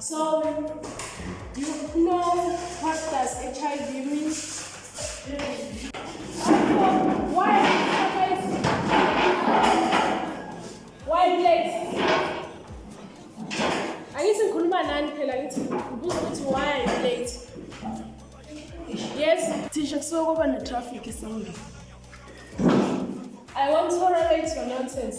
So, you know what does HIV mean? Why? Why late? Angithi ngikhuluma nani phela ngithi ngibuza ukuthi why late? Yes, thisha kusuke kwaba ne-traffic esangeni. I won't tolerate your nonsense.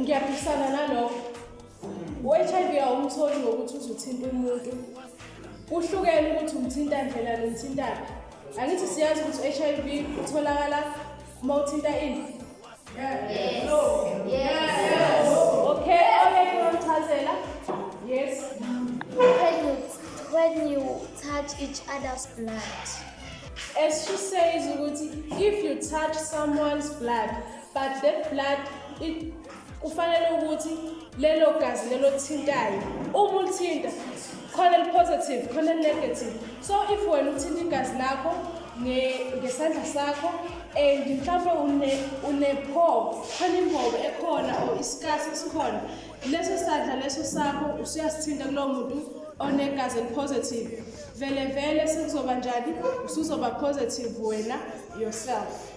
ngiyaphikisana nalokho u-hiv awumtholi ngokuthi uzuthinta umuntu kuhlukene ukuthi umthinta ndlela nomthintana angithi siyazi ukuthi u-hiv utholakala uma uthinta ini okay ongeke wamchazela yes when you, when you touch each other's blood as she says ukuthi if you touch someone's blood but that blood it kufanele ukuthi lelo gazi lelo thintayo uma ulithinta khona li-positive khona li-negative so if wena uthinta igazi lakho ngesandla sakho and mhlawumbe unephobo khona imbobo ekhona or isikasi esikhona leso sandla leso sakho usuyasithinta kulowo muntu onegazi elipositive vele vele sekuzoba njani usuzoba positive wena yourself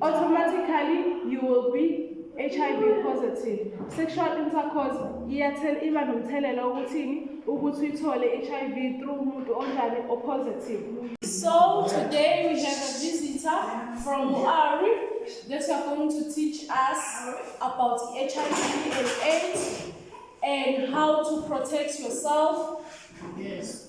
automatically you will be HIV positive sexual intercourse iyathela iba nomthelela ukuthini ukuthi uyithole HIV through umuntu onjani o positive so today we have a visitor from Muari that are going to teach us about HIV and AIDS and how to protect yourself yes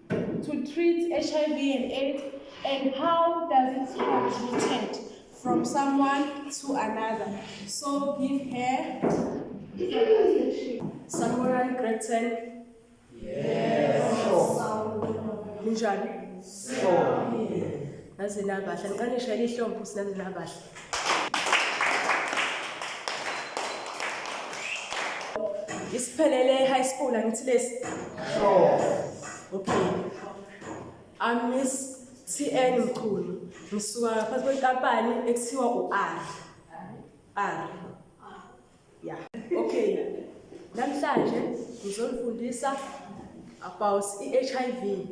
to treat HIV and AIDS and how does it transmitted from someone to another so give her Samurai Gretchen yes Ninjani so Naze nabahle ngiqanisha ihlombo sinaze nabahle isiphelele high school angithi lesi okay i'm miss tn mkhulu ngisuka phansi kwenkampani ekuthiwa u-r r ya okay namhlanje ngizonifundisa about i-HIV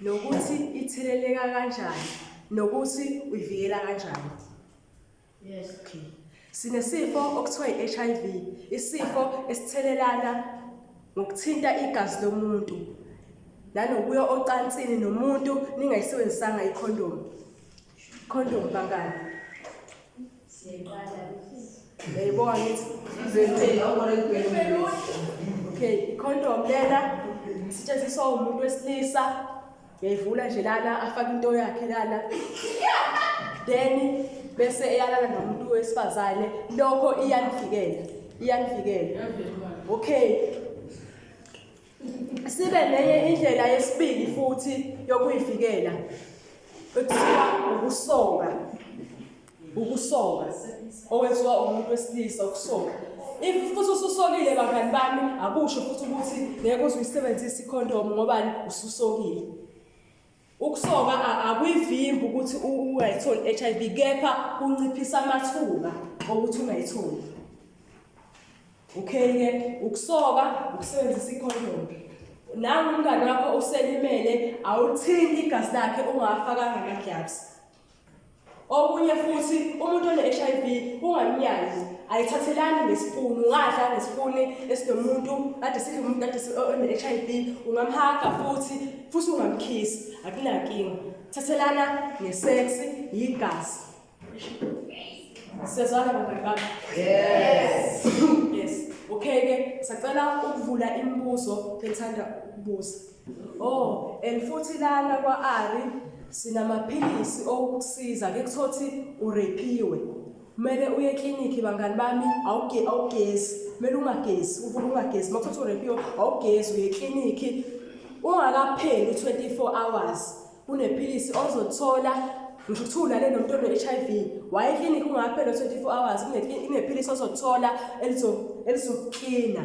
nokuthi itheleleka kanjani nokuthi uyivikela kanjani yes okay sinesifo okuthiwa i-HIV isifo esithelelana ngokuthinta igazi lomuntu nanokuya ocansini nomuntu ningayisebenzisanga ikhondomu Condom bangani. Siyeqala. Yayibona ukuthi zenzela ubona ibhelu. Okay, condom lena isetshenziswa umuntu wesilisa. Yayivula nje lana afaka into yakhe lana. Then bese eyalala nomuntu wesifazane lokho iyanivikela. Iyanivikela. Okay. sibe nenye indlela yesibili futhi yokuyivikela ekuthiwa ukusonga ukusonga owenziwa umuntu wesilisa ukusonga if futhi ususokile bangani bami akusho futhi ukuthi ngeke uze uyisebenzise ikhondomu ngobani ususokile Ukusoka akuyivimbi ukuthi ungayitholi i-HIV kepha kunciphisa amathuba okuthi ungayitholi. Okay ke ukusoka ukusebenzisa ikhondom. Nangu umngane wakho uselimele awuthinti igazi lakhe ungafakanga ama-gloves. Okunye futhi umuntu one-HIV ungamnyazi ayithathelani ngesipuni ungadla ngesipuni esinomuntu kade sidla umuntu kade one-HIV ungamhaga futhi futhi ungamkhisi akunankinga thathelana ngesex yigazi sezwana bangani bami yes yes okay ke sacela ukuvula imibuzo bethanda ukubuza Oh, and futhi lana kwa-Ari sinamaphilisi okukusiza ke kuthiwa ukuthi urepiwe. Kumele uye eklinikhi bangani bami awuge awugezi, kumele ungagezi, uvuke ungagezi. Uma kuthiwa urepiwe awugezi uye eklinikhi ungakapheli u-24 hours. Kunephilisi ozothola ngisho kuthiwa ulale nomuntu one-HIV waye eklinikhi ungakapheli u-24 hours kunephilisi ozothola elizokuklina.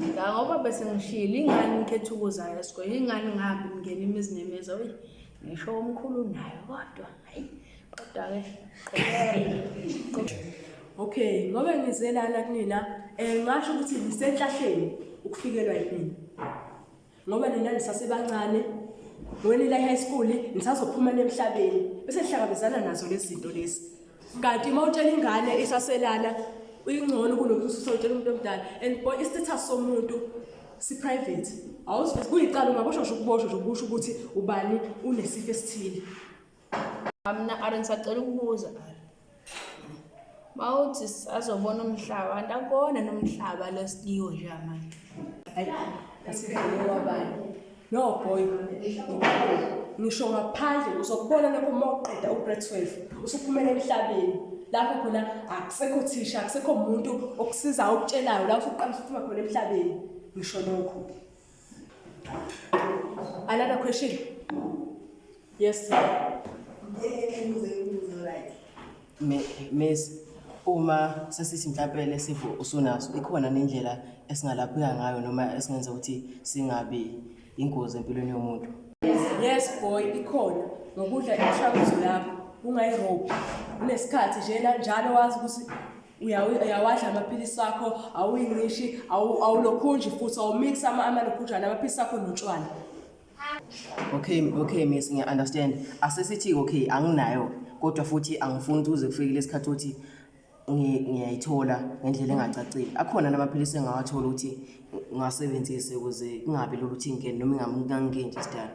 Ngoba bese ngishilo ingane ngikhetha ukuza esikoleni ingane ngihambe ngingena imizi nemizi oyi ngisho umkhulu nayo kodwa hayi kodwa-ke okay ngoba ngizelana kunina um ngasho ukuthi ngisenhlahleni ukufikelwa yini ngoba nina nisasebancane wena ila high school nisazophuma nemhlabeni bese sihlangabezana nazo lezi zinto lezi kanti uma utshela ingane isaselana uyingcono kunokuthi usutshela umuntu omdala and boy istatus somuntu si-private awuzibuzi kuyicala ungaboshosha ukuboshwa nje ukusho ukuthi ubani unesifo esithile Mina Ari ngisacela ukubuza Ari. Mawuthi sazobona umhlaba, antakona nomhlaba lesikiwo nje manje. Hayi, asidlule kwabanye. No boy. Ngisho ngaphandle uzokubona lokho uma uqeda ugrade 12 usuphumela emhlabeni. Lapho khona akusekho thisha, akusekho umuntu okusiza okutshelayo lapho uqala ukuphuma khona emhlabeni. Ngisho lokho. Another question? Yes. Miss, uma sesithi mhlawumbe lesifo usunaso ikhona nendlela esingalapheka ngayo noma esingenza ukuthi singabi ingozi empilweni yomuntu yes boy ikhona ngokudla imishanguzo yakho ungayirobi unesikhathi nje nanjalo wazi ukuthi uyawadla amaphilisi akho awuyinqishi awulokhunji futhi awumix amalokhunjana amaphilisi akho notshwala okay okay miss ngiya-understand asesithi okay anginayo kodwa futhi angifuni ukuthi uze kufikile isikhathi ukuthi ngiyayithola ngendlela engacacile akhona namaphilisi engawathola ukuthi ngiwasebenzise ukuze kungabi lula ukuthi ngingene noma ingamunkanginje isidala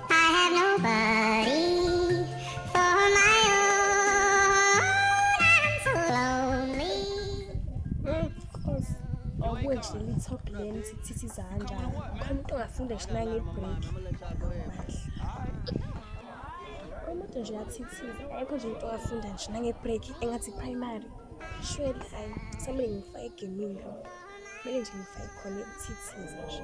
awukwedleli i-top lane sithithi izandla khona umuntu ongafunda ngisho nangebreak umuntu nje uyathithiza ayikho nje umuntu ongafunda ngisho nangebreak engathi primary shweli hayi samele ngifake egemini kumele nje ngifake khona ukuthithiza nje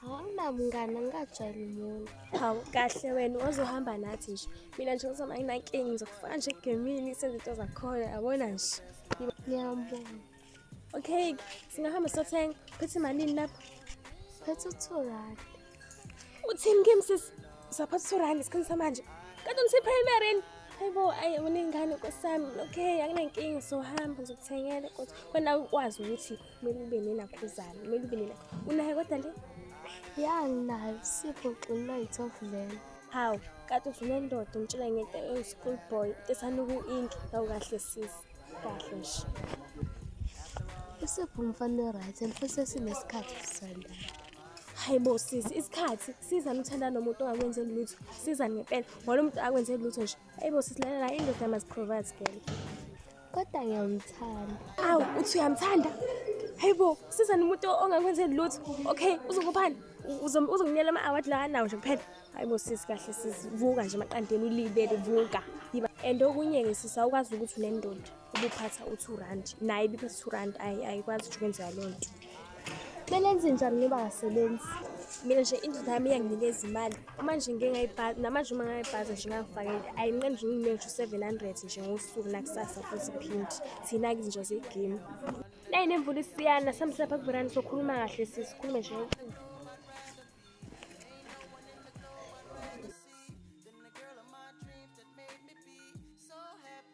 Hamba mngane ngingajwayeli umuntu. Hawu kahle wena ozohamba nathi nje. Mina nje ngizoma nginankinga ngizokufaka nje egemini senze into zakhona yabona nje. Ngiyambona. Okay, singahamba sothenga. Phethe malini lapho? Phethe uthorani. Uthini kimi sisi? Saphatha uthorani isikhathi samanje. Kanti ngise primary yini? Hayibo ayi unengane kwesami. Okay, akunankinga sohamba ngizokuthengela kodwa wena ukwazi ukuthi kumele ube nenakhuzane kumele ube nena unayo kodwa le ya nginayo sipho xinina yi-twelve vele hawu kade usunendoda umtshela ngento ewu-school boy into esanuku inki kawu kahle sisi kahle nje isipho umfana we-right and futhi esinesikhathi sisandana hayi bo sisi isikhathi siza nithanda nomuntu ongakwenzeli lutho siza ngempela ngoba lo muntu akwenzeli lutho nje hayi bo sisi lalela indoda must provide girl kodwa ngiyamthanda awu uthi uyamthanda hayi bo sizani umuntu ongakwenzeli lutho okay uzokuphani uzonginyela ama-award la anawo nje kuphela hayi bo sisi kahle sisi vuka nje maqandeni ulibele vuka yiba and okunye-ke sisi awukwazi ukuthi unendoda ubuphatha u-two rand naye ibiphatha u-two rand ayikwazi ukuthi kwenzeka loo nto Kumele enze njani ngoba akasebenzi? Mina nje indlela yami iyanginikeza imali. Uma nje ngike ngayibhaza, namanje uma ngayibhaza nje ngangifakele, ayinqeni nje ngiyinike ngisho u-seven hundred nje ngosuku nakusasa futhi phindi. Thina-ke izinja zegemu. Nayi nemvula isiyana, sihambise lapha kuveranda sokhuluma kahle sisi, sikhulume nje ngocingo. Then the girl of my dreams that made me be so happy.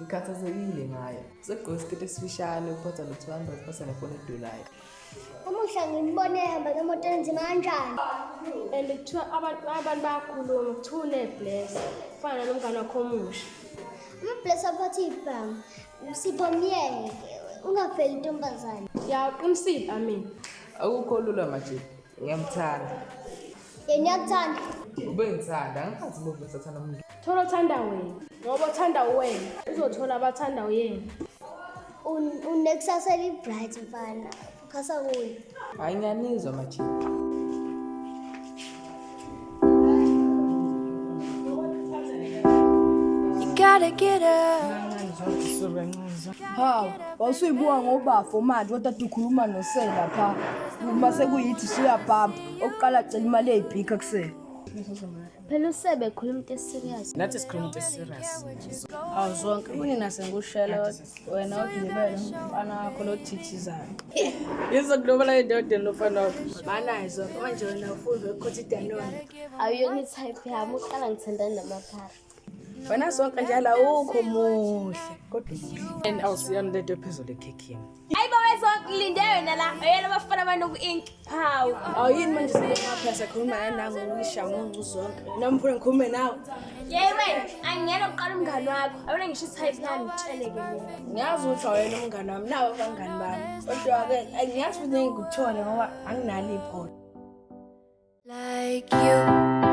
ngikhathazekile ngayo segqoke isiketi esifishane uphatha no-two hundred pasa nefoni edulayo umuhla ngimbone ehamba ngemoto enzima kanjani and kuthiwa abantu abantu bayakhuluma kuthiwa unebless kufana nalo mngane wakho omusha amabless aphatha ibhamu sipho myeke ungaveli intombazane yaqinisile amina akukho lula majibu ngiyamthanda Yena uyakuthanda. Ube ngithanda, angikhathi movie esathanda umuntu. Thola othanda wena. Ngoba othanda wena, uzothola abathanda uyena. Un- Unekusasa elibright mfana. Khasa kuye. Hayi ngiyanizwa majita. You gotta get up. Ha, wawusuyibuka ngobafo manje kodwa ukhuluma nosela pha. Uma sekuyithi suyabhabha. Okuqala cela imali eyibhikha kusele. Phela usebe khuluma into eserious. Nathi sikhuluma into eserious. Awu zonke kuni nase ngushela wena odlibele umfana wakho lo thithizayo. Yizo kulobala indoda lofana wakho. Banayizo manje wena ufunde ukuthi idanona. Awuyona type yami uqala ngithandana namaphara. wena sonke njalo awukho muhle kodwa and awusiyona lento ephezulu ekhekhini hayi baba ezokulinde wena la yena bafana abantu ku-ink phawu awuyini manje siyemaphela sakhuluma nanango uyisha ngoncu zonke noma mfuna ngikhulume nawe yeyi wena angiyena kuqala umngani wakho awona ngisho isayiti lami ngitsheleke ngiyazi ukuthi awuyena umngani wami nawo abangani bami kodwa-ke angiyazi ukuthi engikuthole ngoba anginalo ipholo like you